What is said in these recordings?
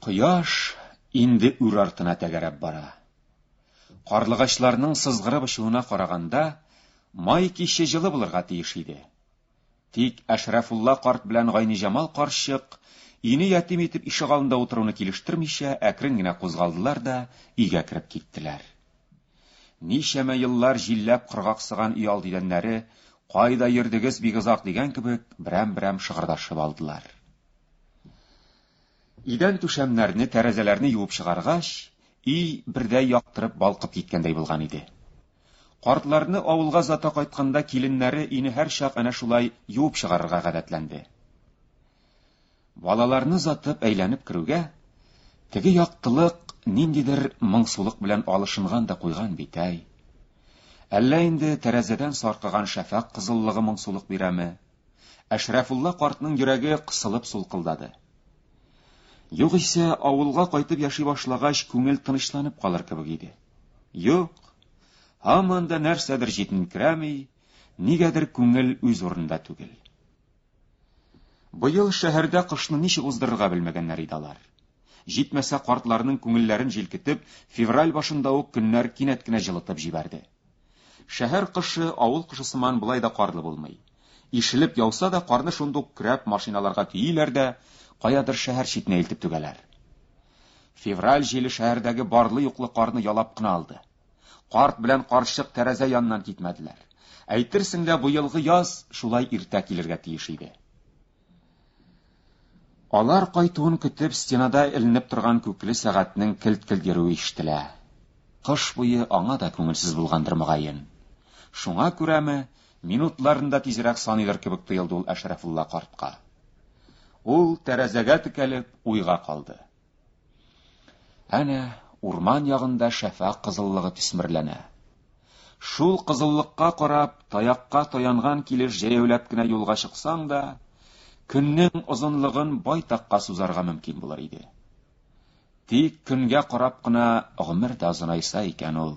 Кояш инде үр артына тәгәрәп бара. Карлыгачларның сызгырып очуына караганда, май киче җылы булырга тиеш иде. Тик Әшрафулла карт белән Гайниҗамал карчык өйне ятим итеп ишек алдында утыруны килештермичә, әкрен генә кузгалдылар да өйгә кереп киттеләр. Ничәмә еллар җилләп кыргаксыган өй алды идәннәре, кайда йөрдегез бик озак дигән кебек, берәм-берәм шыгырдашып алдылар. Идән түшәмнәрне, тәрәзәләрне юып чыгаргач, өй бердәй яктырып, балкып киткәндәй булган иде. Картларны авылга озата кайтканда киленнәре өйне һәрчак әнә шулай юып чыгарырга гадәтләнде. Балаларны озатып әйләнеп керүгә, теге яктылык ниндидер моңсулык белән алышынган да куйган бит, әй. Әллә инде тәрәзәдән саркыган шәфәкъ кызыллыгы моңсулык бирәме? Әшрәфулла картның йөрәге кысылып сулкылдады. Югыйсә, авылга кайтып яши башлагач, күңел тынычланып калыр кебек иде. Юк, һаман да нәрсәдер җитенкерәми, нигәдер күңел үз урында түгел. Быел шәһәрдә кышны ничек уздырырга белмәгәннәр иде алар. Җитмәсә, картларның күңелләрен җилкетеп, февраль башында ук көннәр кинәт кенә җылытып җибәрде. Шәһәр кышы авыл кышы сыман болай да карлы булмый. Ишелеп яуса да, карны шундук көрәп машиналарга төиләр дә, каядыр шәһәр читенә илтеп түгәләр. Февраль җиле шәһәрдәге барлы-юклы карны ялап кына алды. Карт белән карчык тәрәзә яныннан китмәделәр. Әйтерсең лә, быелгы яз шулай иртә килергә тиеш иде. Алар кайтуын көтеп, стенада эленеп торган күкле сәгатьнең келт-келт йөрүе ишетелә. Кыш буе аңа да күңелсез булгандыр, мөгаен. Шуңа күрәме, минутларын да тизрәк саныйдыр кебек тоелды ул Әшрәфулла картка. Ул, тәрәзәгә текәлеп, уйга калды. Әнә урман ягында шәфәкъ кызыллыгы төсмерләнә. Шул кызыллыкка карап, таякка таянган килеш җәяүләп кенә юлга чыксаң да, көннең озынлыгын байтакка сузарга мөмкин булыр иде. Тик көнгә карап кына гомер дә озынайса икән ул.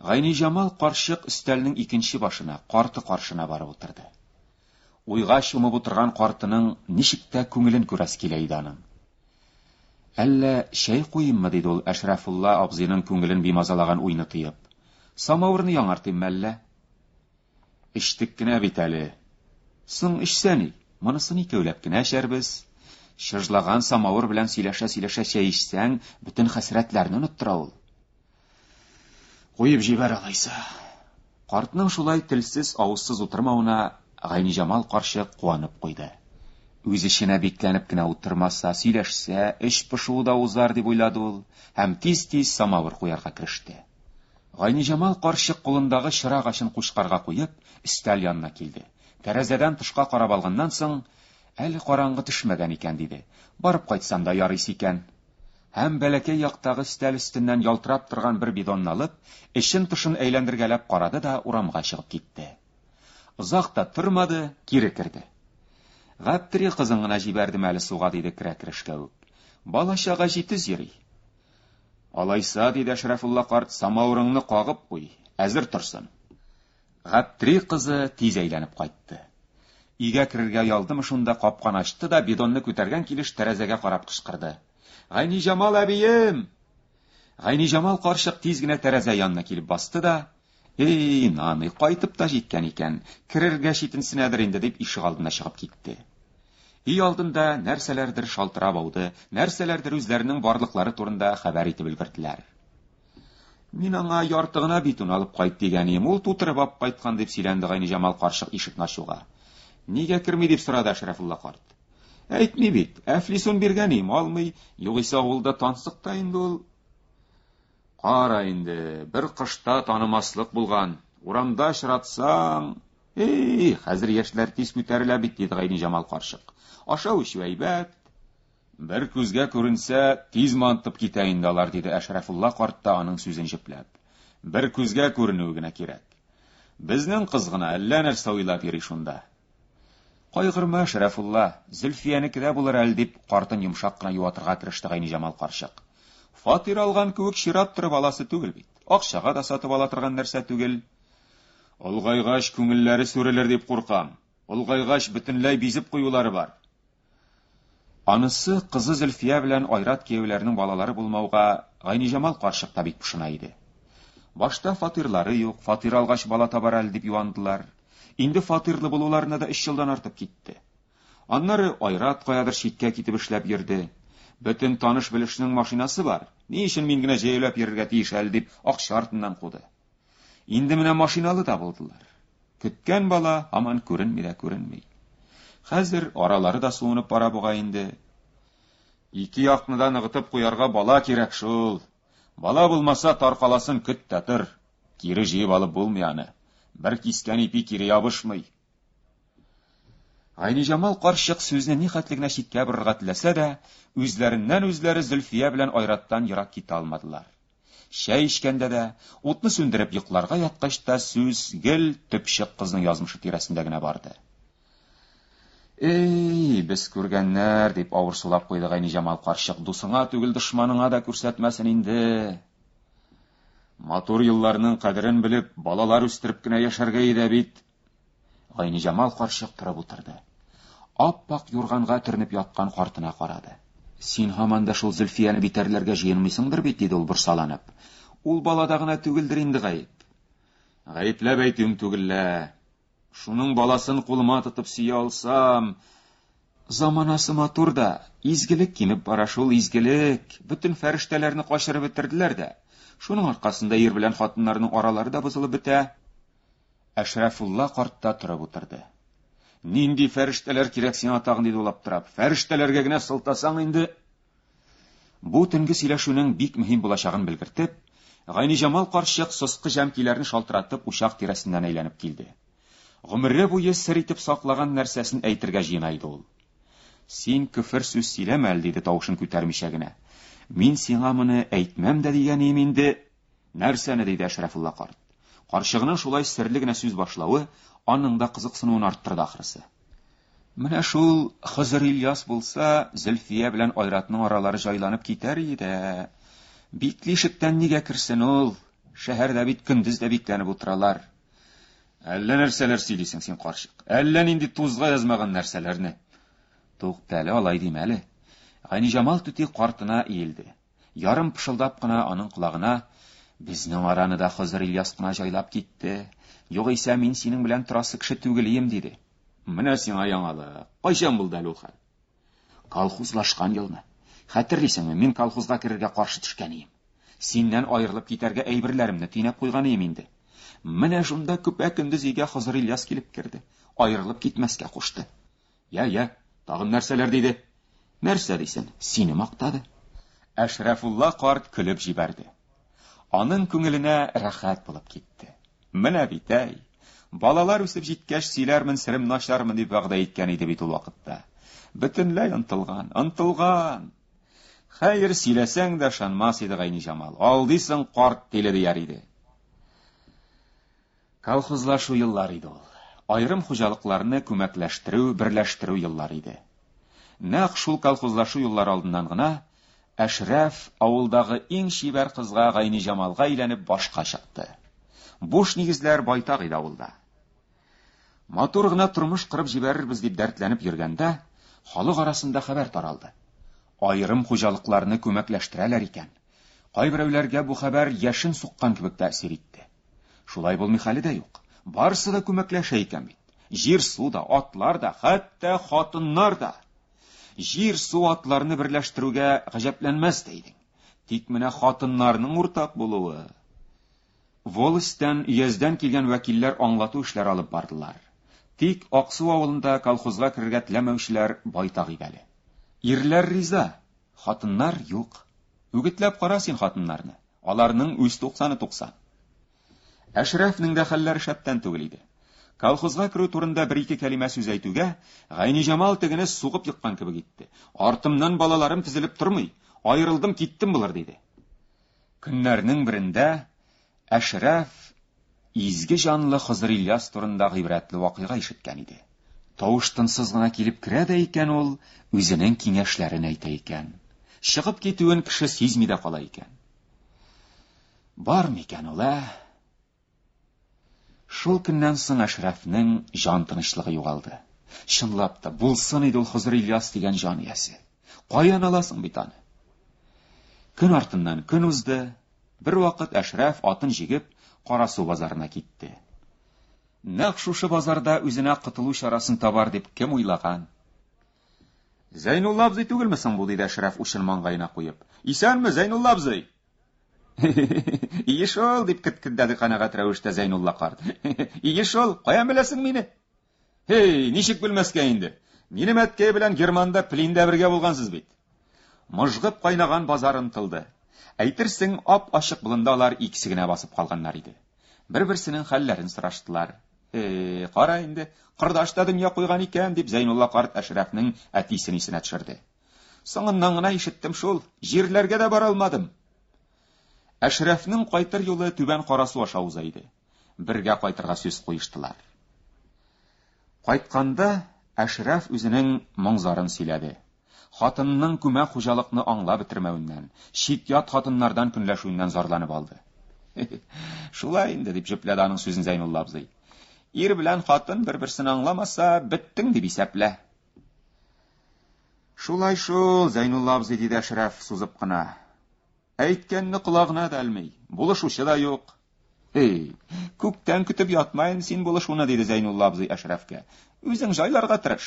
Гайниҗамал карчык өстәлнең икенче башына, карты каршына барып утырды. Уйга чумып утырган картының ничек тә күңелен күрәсе килә иде аның. Әллә чәй куйыйммы, диде ул Әшрәфулла абзыйның күңелен бимазалаган уйны тыеп. Самавырны яңартыйммы әллә? Эчтек кенә бит әле. Соң эчсә ни, монысын икәүләп кенә эчәрбез. Чыжлаган самавыр белән сөйләшә-сөйләшә чәй эчсәң, бөтен хәсрәтләрне оныттыра ул. Куеп җибәр алайса. Картның шулай телсез, авызсыз утырмавына Гайниҗамал карчык куанып куйды. Үз эченә бикләнеп кенә утырмаса, сөйләшсә, эш пошуы да узар дип уйлады ул һәм тиз-тиз самавыр куярга кереште. Гайниҗамал карчык кулындагы чыра гачын кучкарга куеп, өстәл янына килде. Тәрәзәдән тышка карап алганнан соң, әле караңгы төшмәгән икән, диде. Барып кайтсам да ярыйсы икән. һәм бәләкәй яктагы өстәл өстеннән ялтырап торган бер бидонны алып, эчен-тышын әйләндергәләп карады да урамга чыгып китте. Озак та тормады, кире керде. Гаптери кызын гына җибәрдем әле суга, диде керә-керешкә үк. Бала-чага җитез йөри. Алайса, диде Әшрәфулла карт, самавырыңны кагып куй, әзер торсын. Гаптри кызы тиз әйләнеп кайтты. Өйгә керергә ялдымы шунда капканы ачты да бидонны күтәргән килеш тәрәзәгә карап кычкырды. Гайниҗамал әбием! Гайниҗамал карчык тиз генә тәрәзә янына килеп басты да, Эй, наный, кайтып та җиткән икән, керергә читенсенәдер инде, дип ишек алдына чыгып китте. Өй алдында нәрсәләрдер шалтырап ауды, нәрсәләрдер үзләренең барлыклары турында хәбәр итеп өлгерделәр. Мин аңа ярты гына битун алып кайт дигән идем, ул тутырып алып кайткан, дип сөйләнде Гайниҗамал карчык ишекне ачуга. Нигә керми, дип сорады Әшрәфулла карт. Әйтми бит, Әфлисун биргән идем, алмый, югыйсә авылда тансык та инде ул. Кара инде, бер кышта танымаслык булган, урамда очратсаң, эй, хәзер яшьләр тиз күтәрелә бит, диде Гайниҗамал карчык. Ашау-эчү әйбәт, Бер күзгә күренсә, тиз мантып китә инде алар, диде Әшрәфулла карт та аның сүзен җепләп. Бер күзгә күренүе генә кирәк. Безнең кыз гына әллә нәрсә уйлап йөри шунда. Кайгырма, Әшрәфулла, Зөлфиянеке дә булыр әле, дип, картын йомшак кына юатырга тырышты Гайниҗамал карчык. Фатир алган кебек чират торып аласы түгел бит. Акчага да сатып ала торган нәрсә түгел. Олгайгач, күңелләре сүрелер дип куркам. Олгайгач, бөтенләй бизеп куюлары бар. Анысы кызы Зөлфия белән Айрат кияүләрнең балалары булмауга Гайниҗамал карчык та бик пошына иде. Башта фатирлары юк, фатир алгач бала табар әле дип юандылар. Инде фатирлы булуларына да өч елдан артып китте. Аннары Айрат каядыр читкә китеп эшләп йөрде. Бөтен таныш-белешнең машинасы бар, ни өчен мин генә җәяүләп йөрергә тиеш әле дип акча артыннан куды. Инде менә машиналы да булдылар. Көткән бала һаман күренми дә күренми. Хәзер аралары да суынып бара буга инде. Ике якны да ныгытып куярга бала кирәк шул. Бала булмаса, таркаласын көт тә тор. Кире җыеп алып булмый аны. Бер кискән ипи кире ябышмый. Айниҗамал карчык сүзне ни хәтле генә читкә борырга теләсә дә, үзләреннән-үзләре Зөлфия белән Айраттан ерак китә алмадылар. Чәй эчкәндә дә, утны сүндереп йокларга яткач та сүз гел төпчек кызның язмышы тирәсендә генә барды. Эй, без күргәннәр, дип авыр сулап куйды Гайни Җамал карчык, дусыңа түгел дошманыңа да күрсәтмәсен инде. Матур елларның кадерен белеп, балалар үстереп кенә яшәргә иде бит, Гайниҗамал карчык торып утырды. Ап-пак юрганга төренеп яткан картына карады. Син һаман да шул Зөлфияне битәрләргә җыенмыйсыңдыр бит, диде ул борсаланып. Ул балада гына түгелдер инде гаеп. Гаепләп әйтүем түгел лә. Шуның баласын кулыма тотып сөя алсам, заманасы матур да, изгелек кимеп бара шул, изгелек. Бөтен фәрештәләрне качырып бетерделәр дә. Шуның аркасында ир белән хатыннарның аралары да бозылып бетә. Әшрәфулла карт та торып утырды. Нинди фәрештәләр кирәк сиңа тагын, диде ул аптырап. Фәрештәләргә генә сылтасаң инде. Бу төнге сөйләшүнең бик мөһим булачагын белгертеп, Гайниҗамал карчык соскы җәмкиләрен шалтыратып учак тирәсеннән әйләнеп килде. Гомере буе сер итеп саклаган нәрсәсен әйтергә җыена иде ул. Син көфер сүз сөйләмә әле, диде тавышын күтәрмичә генә. Мин сиңа моны әйтмәм дә дигәнием инде, Нәрсәне? диде Әшрәфулла карт. Карчыгының шулай серле генә сүз башлавы аның да кызыксынуын арттырды ахрысы. Менә шул Хызыр Ильяс булса, Зөлфия белән Айратның аралары җайланып китәр иде. Битле ишектән нигә керсен ул? Шәһәрдә бит көндез дә бикләнеп утыралар. Әллә нәрсәләр сөйлисең син, карчык. Әллә нинди тузга язмаган нәрсәләрне. Туктале, алай димәле. Ганиҗамал түти картына иелде. Ярым пышылдап кына аның колагына, Безнең араны да Хозыр Ильяс кына җайлап китте. Югыйсә мин синең белән торасы кеше түгел ием, диде. Менә сиңа яңалык. Кайчан булды әле ул хәл? Колхозлашкан елны. Хәтерлисеңме, мин колхозга керергә каршы төшкән ием. Синнән аерылып китәргә әйберләремне төйнәп куйган ием инде. Менә шунда көпә-көндез өйгә Хозыр Ильяс килеп керде. Аерылып китмәскә кушты. Я, я, тагын нәрсәләр диде? Нәрсә дисен, сине мактады. Әшрәфулла карт көлеп җибәрде. Аның күңеленә рәхәт булып китте. Менә бит, әй, балалар үсеп җиткәч сөйләрмен сирем начармын дип вәгъдә иткән иде бит ул вакытта. Бөтенләй онтылган, онтылган. Хәер, сөйләсәң дә шанмас иде Гайни Җамал. Алдыйсың карт теле дияр иде. Колхозлашу еллары иде ул. Аерым хуҗалыкларны күмәкләштерү, берләштерү еллары иде. Нәкъ шул колхозлашу еллары алдыннан гына Әшрәф, авылдагы иң чибәр кызга Гайниҗамалга өйләнеп башка чыкты. Буш нигезләр байтак иде авылда. Матур гына тормыш корып җибәрербез дип дәртләнеп йөргәндә, халык арасында хәбәр таралды. Аерым хуҗалыкларны күмәкләштерәләр икән. Кайберәүләргә бу хәбәр яшен суккан кебек тәэсир итте. Шулай булмый хәле дә юк. Барысы да күмәкләшә икән бит. Җир, су да, атлар да, хәтта хатыннар да. Җир, су, атларны берләштерүгә гаҗәпләнмәс тә идең. Тик менә хатыннарның уртак булуы. Волостьтан, өяздән килгән вәкилләр аңлату эшләр алып бардылар. Тик Аксу авылында колхозга керергә теләмәүчеләр байтак иде әле. Ирләр риза, хатыннар юк. Үгетләп кара син хатыннарны. Аларның үз туксаны туксан. Әшрәфнең дә хәлләре шәптән түгел иде. Колхозга керү турында бер-ике кәлимә сүз әйтүгә, Гайниҗамал тегене сугып еккан кебек итте. Артымнан балаларым тезелеп тормый, аерылдым, киттем болар, диде. Көннәрнең берендә Әшрәф Изге җанлы Хозырильяс турында гыйбрәтле вакыйга ишеткән иде. Тавыш-тынсыз гына килеп керә дә икән ул, үзенең киңәшләрен әйтә икән. Чыгып китүен кеше сизми дә кала икән. Бар микән ул, ә? Шул көннән соң Әшрәфнең җан тынычлыгы югалды. Чынлап та, булсын иде ул Хозырильяс дигән җан иясе. Каян аласың бит аны? Көн артыннан көн узды, Бервакыт Әшрәф атын җигеп Карасу базарына китте. Нәкъ шушы базарда үзенә котылу чарасын табар дип кем уйлаган? Зәйнулла абзый түгелме соң бу, диде Әшрәф учын маңгаена куеп. Исәнме, Зәйнулла абзый? Ие шул, дип кеткелдәде канәгать рәвештә Зәйнулла карт. Ие шул, каян беләсең мине? Һей, ничек белмәскә инде. Минем әткәй белән Германда Плиндә бергә булгансыз бит. Мыжгып кайнаган базар онтылды. Әйтерсең, ап-ачык болында алар икесе генә басып калганнар иде. Бер-берсенең хәлләрен сораштылар. Һей, кара инде, кордаш та дөнья куйган икән, дип Зәйнулла карт Әшрәфнең әтисен исенә төшерде. Соңыннан гына ишеттем шул, җирләргә дә бара алмадым. Әшрәфнең кайтыр юлы Түбән Карасу аша уза иде. бергә кайтырга сүз куештылар. Кайтканда Әшрәф үзенең моң-зарын сөйләде. Хатынының күмәк хуҗалыкны аңлап бетермәвеннән, чит-ят хатыннардан көнләшүеннән зарланып алды. Шулай инде, дип җөпләде аның сүзен Зәйнулла абзый. Ир белән хатын бер-берсен аңламаса, беттең дип исәплә. Шулай шул, Зәйнулла абзый, диде Әшрәф сузып кына. Әйткәнне колагына да элми, булышучы да юк. Эй, күптән көтеп ятмайын син булышуны, диде Зәйнулла абзый Әшрәфкә. Үзең җайларга тырыш.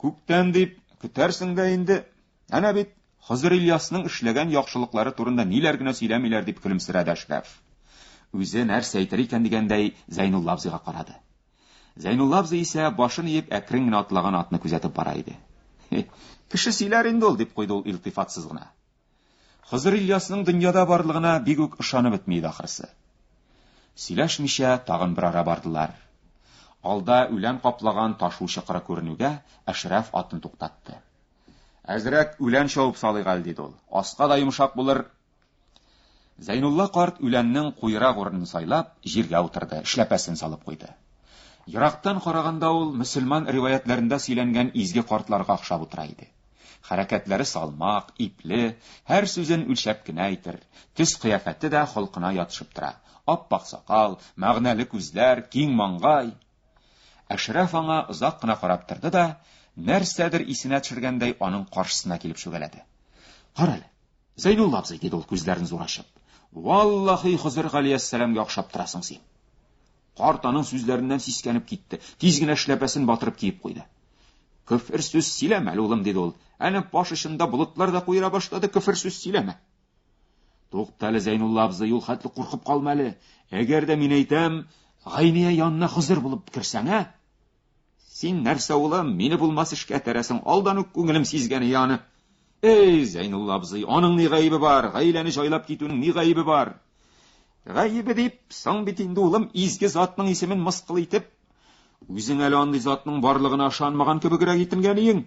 Күптән дип көтәрсең дә инде. Әнә бит Хозыр Ильясның эшләгән яхшылыклары турында ниләр генә сөйләмиләр, дип көлемсерәде Әшрәф. Үзе нәрсә әйтер икән дигәндәй Зәйнулла абзыйга карады. Зәйнулла абзый исә башын иеп әкрен генә атлаган атны күзәтеп бара иде. Кеше сөйләр инде ул, дип куйды ул илтифатсыз гына. Хызыр Ильясның дөньяда барлыгына бик үк ышанып бетми иде ахрысы. Сөйләшмичә тагын бер ара бардылар. Алда үлән каплаган ташу чокыры күренүгә, Әшрәф атын туктатты. Әзрәк үлән чавып салыйк әле, диде ул. Аска да йомшак булыр, Зәйнулла карт үләннең куерак урынын сайлап, җиргә утырды, эшләпәсен салып куйды. Ерактан караганда ул мөселман риваятләрендә сөйләнгән изге картларга охшап утыра иде. Хәрәкәтләре салмак, ипле, һәр сүзен үлчәп кенә әйтер, төс-кыяфәте дә холкына ятышып тора. Ап-ак сакал, мәгънәле күзләр, киң маңгай. Әшрәф аңа озак кына карап торды да, нәрсәдер исенә төшергәндәй, аның каршысына килеп чүгәләде. Карале. Зәйнулла абзый, диде ул күзләрен зур ачып, валлахи Хозыр Галиәссәламгә охшап торасың син. Карт аның сүзләреннән сискәнеп китте, тиз генә эшләпәсен батырып киеп куйды. Көфер сүз сөйләмә, улым, диде ул. Әнә баш очында болытлар да куера башлады, көфер сүз сөйләмә. Туктале, Зәйнулла абзый, юл хәтле куркып калма әле. Әгәр дә мин әйтәм, Гайния янына Хозыр булып керсәң, ә? Син нәрсә, улым, мине булмас эшкә тәрәсең, алдан ук күңелем сизгәне яны. Эй, Зәйнулла абзый, аның ни гаебе бар, гаиләне җайлап китүнең ни гаебе бар? Гаебе дип, соң бит инде, улым, изге затның исемен мыскыл итеп, үзең әле андый затның барлыгына ышанмаган кебегрәк итенгән иең.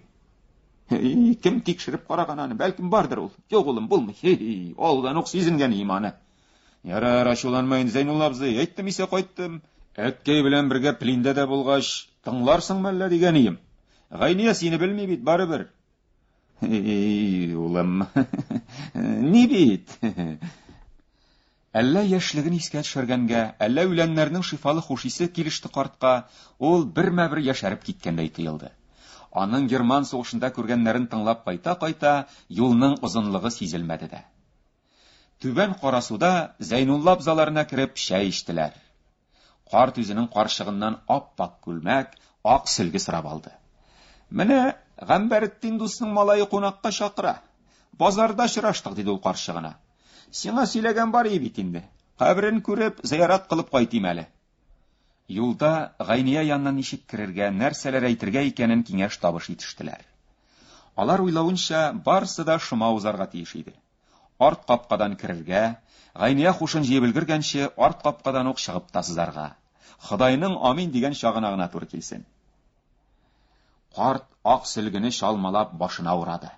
Кем тикшереп караган аны, бәлкем бардыр ул. Юк, улым, булмый. Алдан ук сизенгән иманы. Ярар, ачуланма инде, Зәйнулла абзый, әйттем исә кайттым. Әткәй белән бергә плиндә дә булгач, тыңларсың мәллә дигән ием. Гайния сине белми бит, барыбер. Эй, улым, ни бит? Әллә яшьлеген искә төшергәнгә, әллә үләннәрнең шифалы хуш исе килеште картка, ул бермә-бер яшәреп киткәндәй тоелды. Аның Герман сугышында күргәннәрен тыңлап кайта-кайта, юлның озынлыгы сизелмәде дә. Түбән Карасуда Зәйнулла абзаларына кереп чәй эчтеләр. Карт үзенең карчыгыннан ап-ак күлмәк, ак сөлге сорап алды. Менә Гамбәретдин дусның малае кунакка чакыра. Базарда очраштык, диде ул карчыгына. Сиңа сөйләгән бар ие бит инде. Каберен күреп, зыярат кылып кайтыйм әле. Юлда Гайния янына ничек керергә, нәрсәләр әйтергә икәнен киңәш-табыш итештеләр. Алар уйлавынча, барысы да шома узарга тиеш иде. Арт капкадан керергә, Гайния хушын җыеп өлгергәнче, арт капкадан ук чыгып та сызарга. Ходайның амин дигән чагына гына туры килсен. Карт ак сөлгене чалмалап башына урады.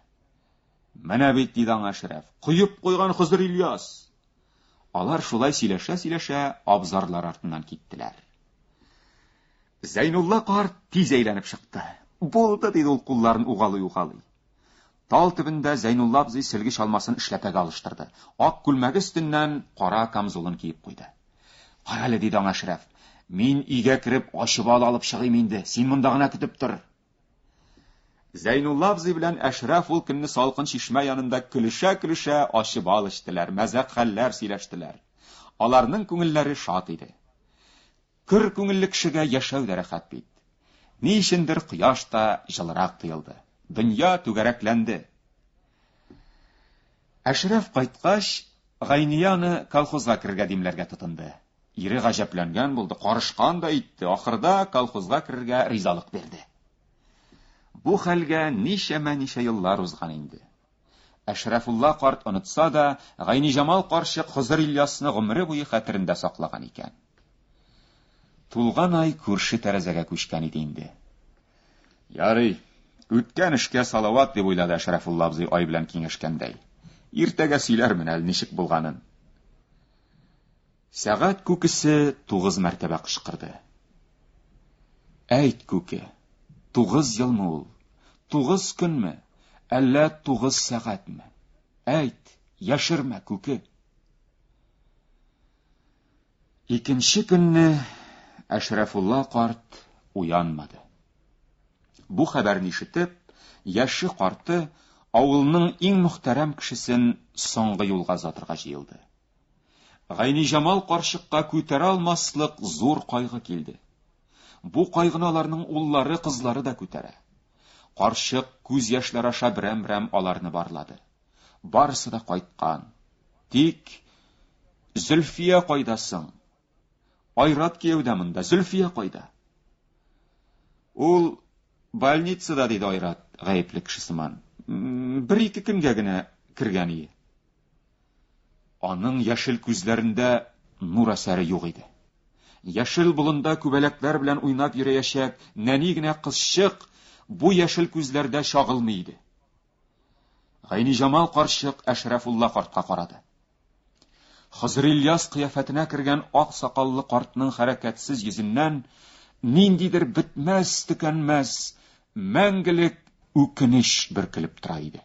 Менә бит, диде аңа Әшрәф, коеп куйган Хызыр Ильяс! Алар шулай сөйләшә-сөйләшә абзарлар артыннан киттеләр. Зәйнулла карт тиз әйләнеп чыкты. Булды, диде ул кулларын угалый-угалый. Тал төбендә Зәйнулла абзый сөлге чалмасын эшләпәгә алыштырды. Ак күлмәге өстеннән кара камзулын киеп куйды. Карале, диде аңа Шрәф. Мин өйгә кереп, ачып алып чыгыйм инде. Син монда гына көтеп тор. Зәйнулла абзый белән Әшрәф ул көнне салкын чишмә янында көлешә-көлешә ачы бал эчтеләр, мәзәк хәлләр сөйләштеләр. Аларның күңелләре шат иде. Көр күңелле кешегә яшәү дә рәхәт бит. Ни өчендер кояш та җылырак тоелды. Дөнья түгәрәкләнде. Әшрәф кайткач, Гайния аны колхозга керергә димләргә тотынды. Ире гаҗәпләнгән булды, карышкан да итте, ахырда колхозга керергә ризалык бирде. Бу хәлгә ничәмә-ничә еллар узган инде. Әшрәфулла карт онытса да, Гайниҗамал карчык Хозыр Ильясны гомере буе хәтерендә саклаган икән. Тулган ай күрше тәрәзәгә күчкән иде инде. Ярый, үткән эшкә салават, дип уйлады Әшрәфулла абзый ай белән киңәшкәндәй. Иртәгә сөйләрмен әле ничек булганын. Сәгать күкесе тугыз мәртәбә кычкырды. Әйт, күке, тугыз елмы ул? Тугыз көнме? Әллә тугыз сәгатьме? Әйт, яшермә, күке. Икенче көнне Әшрәфулла карт уянмады. Бу хәбәрне ишетеп, яше карты авылның иң мөхтәрәм кешесен соңгы юлга озатырга җыелды. Гайниҗамал карчыкка күтәрә алмаслык зур кайгы килде. Бу кайгыны аларның уллары, кызлары да күтәрә. Карчык күз яшьләр аша берәм-берәм аларны барлады. Барысы да кайткан. Тик Зөлфия кайда соң? Айрат кияү дә монда. Зөлфия кайда? Ул больницада, диде Айрат, гаепле кеше сыман. Бер-ике көнгә генә кергән ие. Аның яшел күзләрендә нур әсәре юк иде. Яшел болында күбәләкләр белән уйнап йөрәячәк нәни генә кызчык бу яшел күзләрдә чагылмый иде. Гайниҗамал карчык Әшрафулла картка карады. Хозыр Ильяс кыяфәтенә кергән ак сакаллы картның хәрәкәтсез йөзеннән ниндидер бетмәс-төкәнмәс мәңгелек үкенеч бөркелеп тора иде.